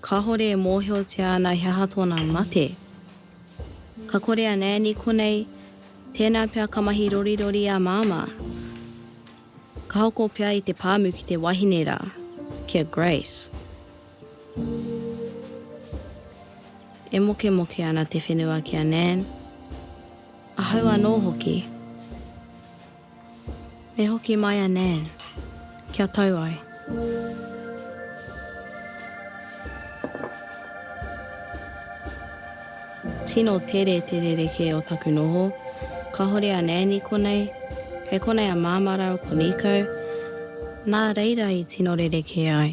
Kāhore e mōhiotia ana he aha tōna mate. Ka kore a Nani konei, tēnā pea ka mahi rorirori a Māmā. Ka hoko pea i te pāmu ki te wahine rā, ki a Grace. E mokemoke ana te whenua ki a Nan, ahau anō hoki. E hoki mai a Nan, kia tau ai. Tino tere te rerekē o taku noho. Kahore a Nan i konei, kei konei a Māmā rāua ko Niko, nā reira i tino rerekē ai.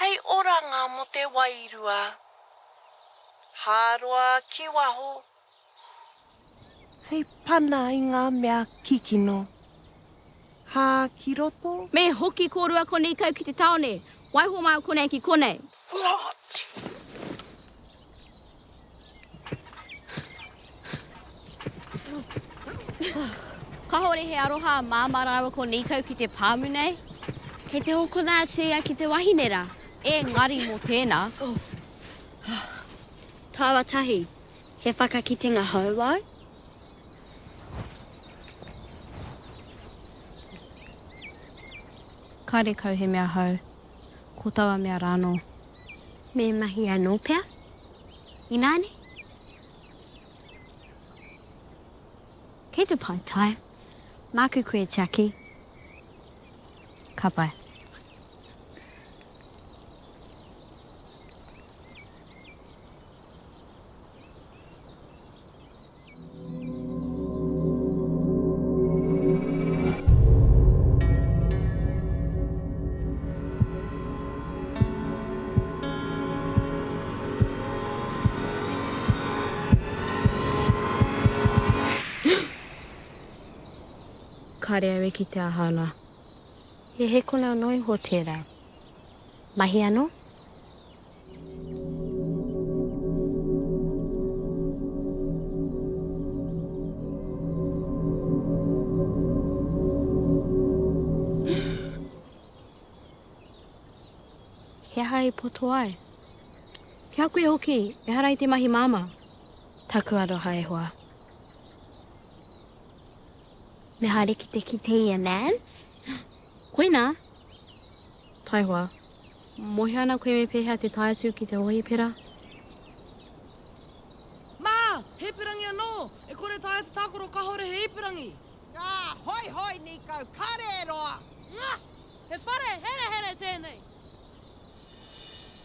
Hei oranga mo te wairua. Hāroa ki waho. Hei pana i ngā mea kikino. Hā ki roto. Me hoki kōrua konei kau ki te taone, waiho māu konei ki konei. Kahore he aroha a Mama raua ko Nikau ki te pamu nei. Kei te hokona atu ia ki te wahine ra. Engari mo tena. Taua tahi, he whakakitenga hou au. Kare kau he mea hou. ko taua mea rā anō. Me mahi anō pea. Inā nei. Kei te pai tae. Māku koe e tiaki. Ka pai. Kāre au e kite a Hāna. He hēkonau noa iho tērā. Mahi anō? He aha i poto ai? Ki a koe hoki, ehara i te mahi māmā. Taku aroha e hoa. Me haere ki te kiteia, Nan. Koinā. Taihoa. Mohio ana koe me pehea te tae atu ki te hohipera? Mā! He ipurangi anō! E kore taea te tākaro kāore he ipurangi! Ngā! Hoi hoi nīkau! Kare e roa! Ngā! He whare herehere tēnei!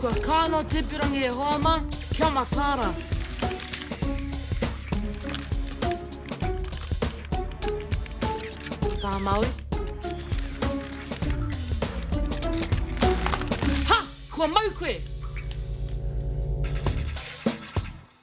Kua kaa no Teperangi e hoa ma, kia mataara. Taha Maui. Ha! Kua mau koe!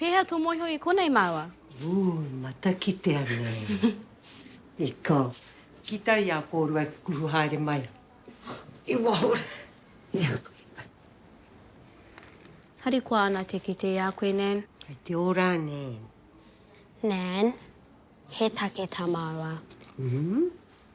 Pēhea tō mōhio i konei māua? Ooh, matakitea nei. I ko. Ki tai i a kōrua i kukuhu haere mai. I waho rā. Harikoa ana te kite i a koe, Nan. Kei te ora, Nan. Nan, he take tā māua. Umm.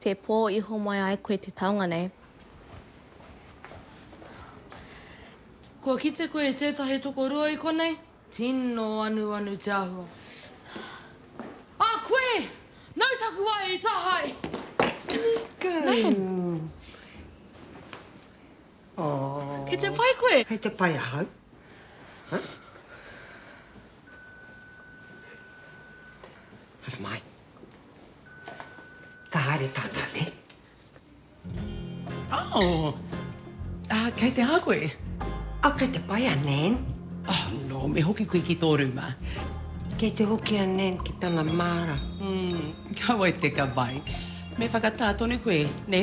Te pō i homai ai koe te taonga nei. Kua kite koe i tētahi tokorua i konei, tino anuanu te āhua. A koe! Nau taku wae i tāhae! Nan! Ki te pai koe? Kei te pai ahau. Haramai. Ka haere tātā, nē? Oh! Ah, kei te aha koe? Oh, kei te pai a Nan. Oh, nō, me hoki koe ki tō rūma. Kei te hoki a Nan ki tana māra. Mm, ka wai te ka wai. Me whakatā tonu koe, nē?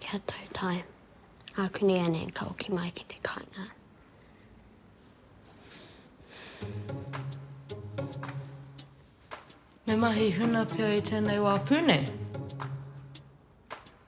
Kia tau tae. Aku nei a Nan ka hoki mai ki te kainga. Me mahi huna pea i tēnei wā pū nei.